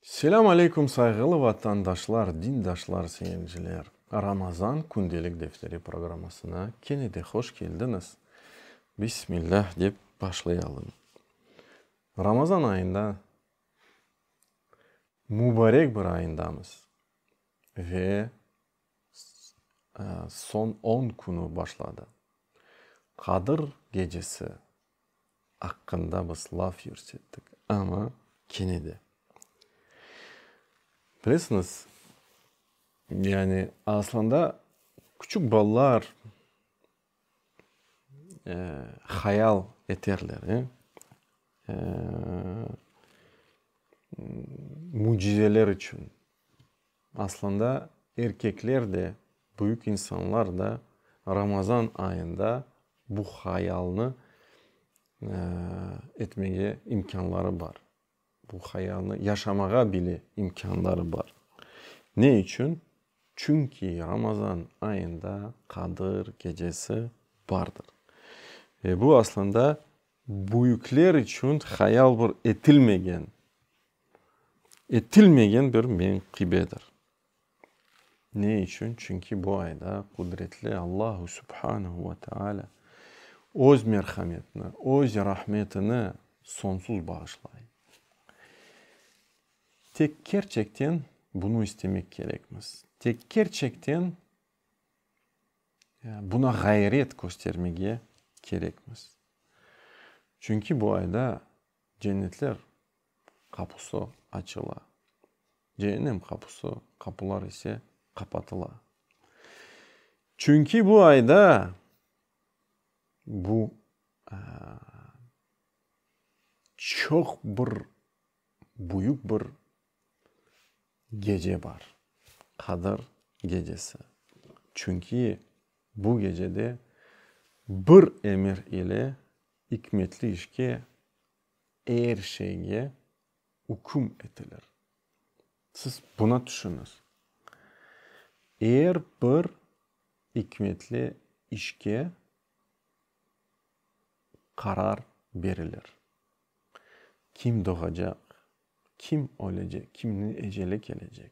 Selâm aleykum sayğılı vatandaşlar, dindaşlar, seyirciler! Ramazan kündelik defteri programmasına kene de hoş keldiñiz! Bismillah dep başlayalım. Ramazan ayında, mübarek bir ayındamız ve soñ on künü başladı. Qadır Gecesi aqqında biz laf yürsettik, amma kene de. Bilesiñiz, yani, aslında, küçük balalar hayal eterler, mücizeler içün. Aslında erkekler de, büyük insanlar da Ramazan ayında bu hayalnı etmege imkânları bar. Bu hayalnı yaşamağa bile imkânları bar. Ne içün? Çünki Ramazan ayında Qadır gecesi bardır. Ve bu aslında büyükler içün hayal bir etilmegen, etilmegen bir menkıbedir. Ne içün? Çünki bu ayda Qudretli Allahu Subhanehu ve Teala Öz merhametini, Öz rahmetini sonsuz bağışlay. Tek kerçekten bunı istemek kerekmiz. Tek kerçekten buna ğayret köstermege kerekmiz. Çünki bu ayda Cennetler qapusı açıla, cehennem qapusı, qapular ise qapatıla. Çünki bu ayda bu çoq bir büyük bir gece bar, Qadr gecesi. Çünki bu gecede bir emir ile İkmetli işke, er şeyge üküm etilir. Siz buna tüşüniz. Er bir ikmetli işke qarar berilir. Kim doğacaq, kim ölecek, kimniñ eceli kelecek.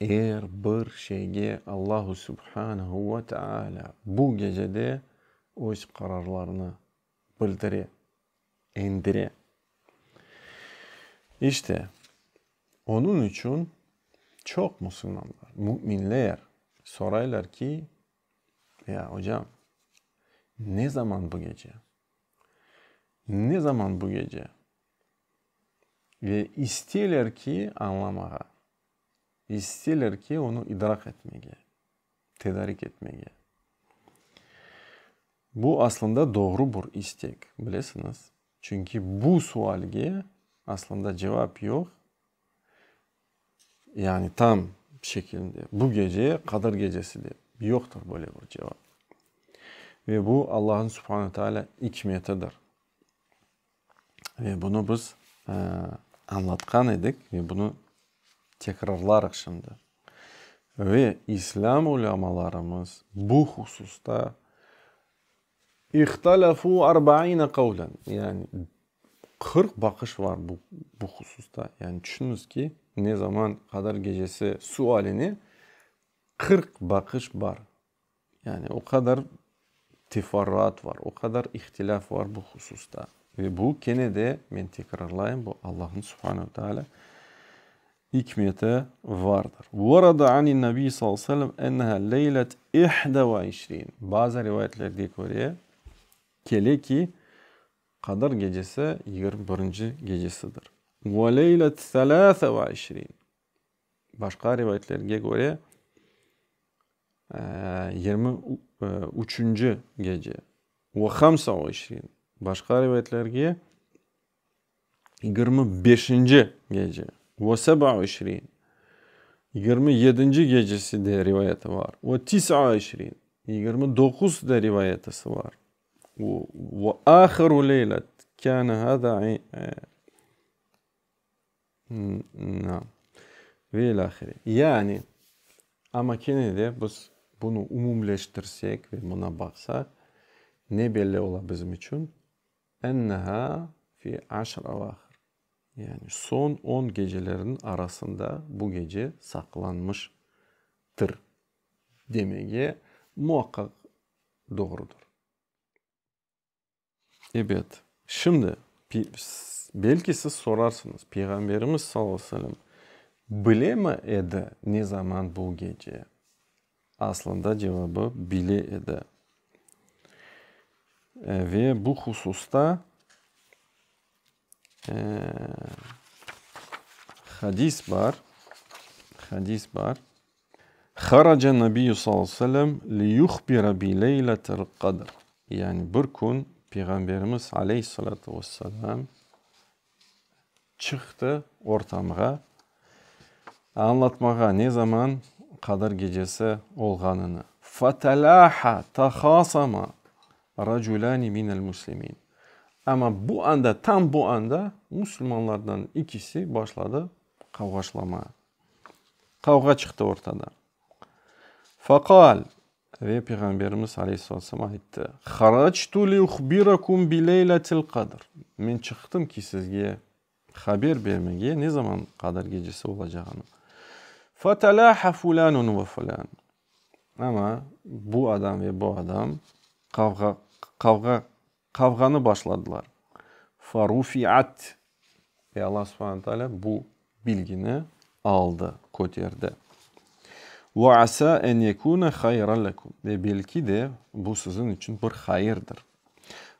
Er bir şeyge Allahu Subhanehu ve Teala bu gecede öz qararlarını bildire, endire. İşte, onıñ içün çoq musulmanlar, müminler soraylar ki, Ya, ocam, ne zaman bu gece? Ne zaman bu gece? Ve isteyler ki, añlamağa, isteyler ki, onı idrak etmege, tedarik etmege. Bu aslında doğru bir istek, bilesiñiz. Çünki bu sualge aslında cevap yoq, yani tam şekilinde, bu gece, Qadr gecesi dep, yoqtır böyle bir cevap. Ve bu Allañıñ subhane teala ikmetidir. Ve bunı biz añlatqan edik ve bunı tekrarlarıq şimdi. Ve islâm ulâmalarımız bu hususta ihtalâfû arbaine kavlen, yani qırq baqış var bu bu hususta. Yani tüşüniz ki, ne zaman Qadr Gecesi sualine qırq baqış bar. Yani o qadar teferruat var, o qadar ihtilâf var bu hususta. Ve bu kene de, men tekrarlayım, bu Allahnıñ Subhane ve Teala ikmeti vardır. Vorada anin Nabiy sallallahu aleyhi ve sellem enneha leylet ihde ve işrin. Bazı rivayetlerge köre, kele ki, Qadr gecesi yigirmi birinci gecesidir. Ve leylet selâse ve işrin. Başqa rivayetlerge köre, yirmi üçünci gece, ve hamsa ve işrin, başqa rivayetlerge, yigirmi beşinci gece, ve seba ve işrin, yigirmi yedinci gecesi de rivayeti bar, ve tisa ve işrin, yigirmi doquz da rivayetisi bar. Ve ahiru leylet kâne hâzâ. Ve ilâhre. Yani, amma kene de biz bunı umumleştirsek ve buna baqsaq, ne belli ola bizim içün? Ennehâ fi aşr evâhir. Yani, soñ on geceleriniñ arasında bu gece saqlanmıştır demege muaqqaq doğrudır. Ebet. Şimdi, belki siz sorarsıñız, Peyğamberimiz sallallahu aleyhi ve sellem bilemi edi, ne zaman bu gece? Aslında cevabı, bile edi. Ve bu hususta. Hadis bar, hadis bar. Haraca Nabiyyü sallallahu aleyhi ve sellem liyuhbira bi leyletil qadr. Yani bir kün Peyğamberimiz aleyhi salâtu ve selâm çıqtı ortamğa, añlatmağa, ne zaman Qadr Gecesi olğanını. Fetelâha, tehasama, Racülâni minel muslimin. Amma bu anda, tam bu anda musulmanlardan ikisi başladı qavğaşlamağa. Qavğa çıqtı ortada. Fâkâl, ve Peyğamberimiz aleyhissalâtu vesselâm ayttı, Haractu liuhbirakum bi leyletil qadr. Men çıqtım ki, sizge Haber bermege ne zaman qadar gecesi olacağını. Fetelaha fulanun ve fulan. Amma bu adam ve bu adam qavğa, qavğa, qavğanı başladılar. Ferufiat. Ve Alla subhane teala bu bilgini aldı, köterdi. Ve asa en yekune hayran lekum. Ve belki de bu siziñ içün bir hayırdır.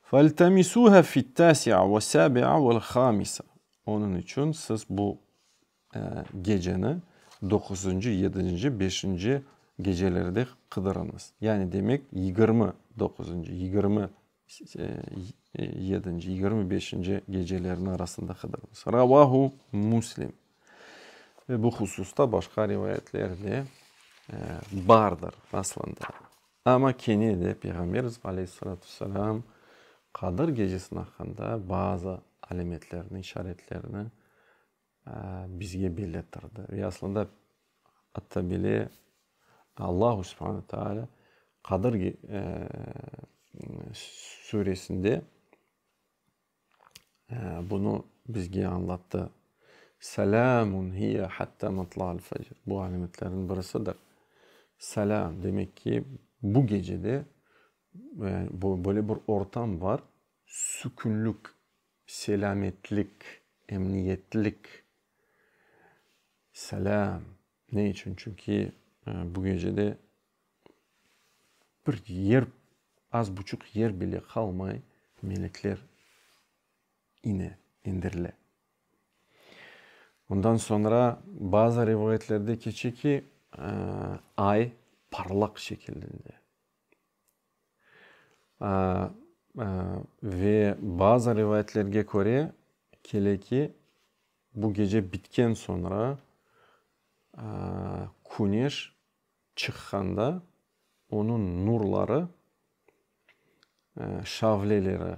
Feltemisüha fit-tâsi'a ve-sâbi'a vel-hâmisa, Onıñ içün siz bu geceni doquzıncı, yedinci, beşinci gecelerde qıdırıñız. Yani demek, yigirmi doquzıncı, yigirmi yedinci, yigirmi beşinci gecelerin arasında qıdırıñız. Ravahu Müslim. Ve bu hususta başqa rivayetler de bardır aslında. Amma kene de Peyğamberimiz aleyhissalâtu vesselâm Qadır Gecesiniñ aqqında bazı alâmetlerni, işaretlerni bizge belletirdi. Ve aslında atta bile Allahu subhane ve taalâ Qadır Suresinde Bunı bizge añlattı. Selâmun hiye hattâ matlâ'l fecr. Bu alâmetlerniñ birisidir. Selâm, demek ki, bu gecede böyle bir ortam bar, sükünlik, selâmetlik, emniyetlik. Selâm. Ne içün? Çünki bu gecede bir yer, az buçuq yer bile qalmay, melekler ine, indirile. Ondan soñra bazı rivayetlerde keçe ki, ay parlaq şekilinde. Ve bazı rivayetlerge köre, kele ki, bu gece bitken soñra küneş Çıqqanda onıñ nurları, şavleleri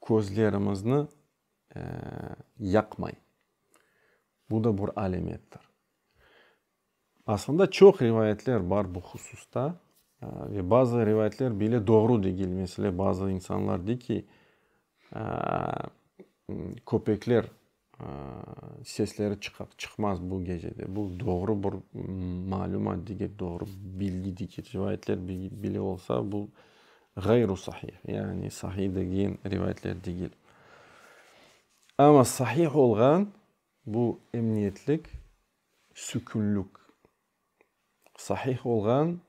közlerimizni yaqmay. Bu da bir alâmettir. Asılında çoq rivayetler bar bu hususta. Ve bazı rivayetler bile doğru degil. Mesele, bazı insanlar dey ki, köpekler Sesleri çıqar çıqmaz bu gecede bu doğru bir malümat dege doğru bilgi dege rivayetler bile olsa bu ğayru sahih yani sahih degen rivayetler degil. Amma sahih olğan bu emniyetlik sükünlük sahih olğan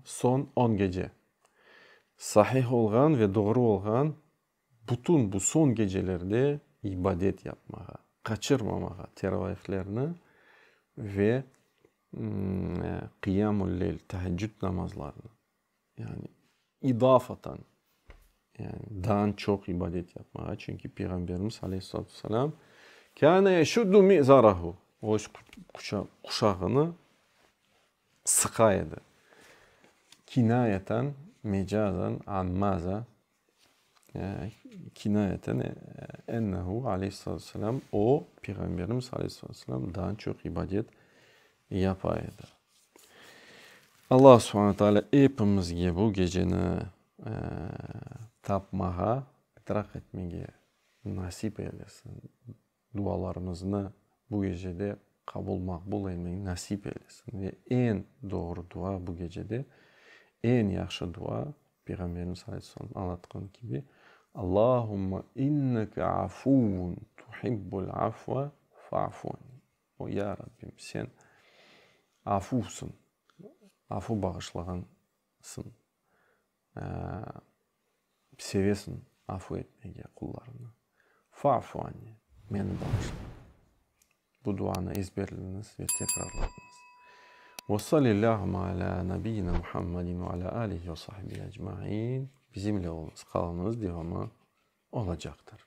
son on gece sahih olğan ve doğru olğan Bütün bu soñ gecelerde ibadet yapmağa, qaçırmamağa teravihlerni ve qıyamul leyl, teheccüd namazlarını, yani idafaten, yani daa çoq ibadet yapmağa, çünki Peyğamberimiz aleyhissalatu vesselam, kâne yeşuddu mi'zarahu, öz quşağını sıqa edi. Kinâyeten, mecazen, an mâzâ? Kinayeten, Ennehu, aleyhissalâtu vesselâm, o, Peyğamberimiz, aleyhissalâtu vesselâm, daa çoq ibadet yapa edi. Alla subhane taalâ epimizge bu geceni tapmağa, itraq etmege nasip eylesin! Dualarımıznı bu gecede qabul maqbul eymey nasip eylesin. Ve eñ doğru dua bu gecede, eñ yahşı dua, Peyğamberimiz aleyh salam añlatqan kibi, Allahumma inneke afuvun tuhibbul afva fa'fu anni. O ya Rabbim, sen afuvsıñ, afu bağışlağansıñ, Sevesiñ afu etmege qullarıñnı. Faafu anni, meni bağışla. Bu duanı ezberleñiz ve tekrarlañız. Ve sallillâhuma alâ nabiyyina Muhammadin ve alâ alihi ve sahbihi ecmain. Bizimle oluñız, qalıñız, devamı olacaqtır.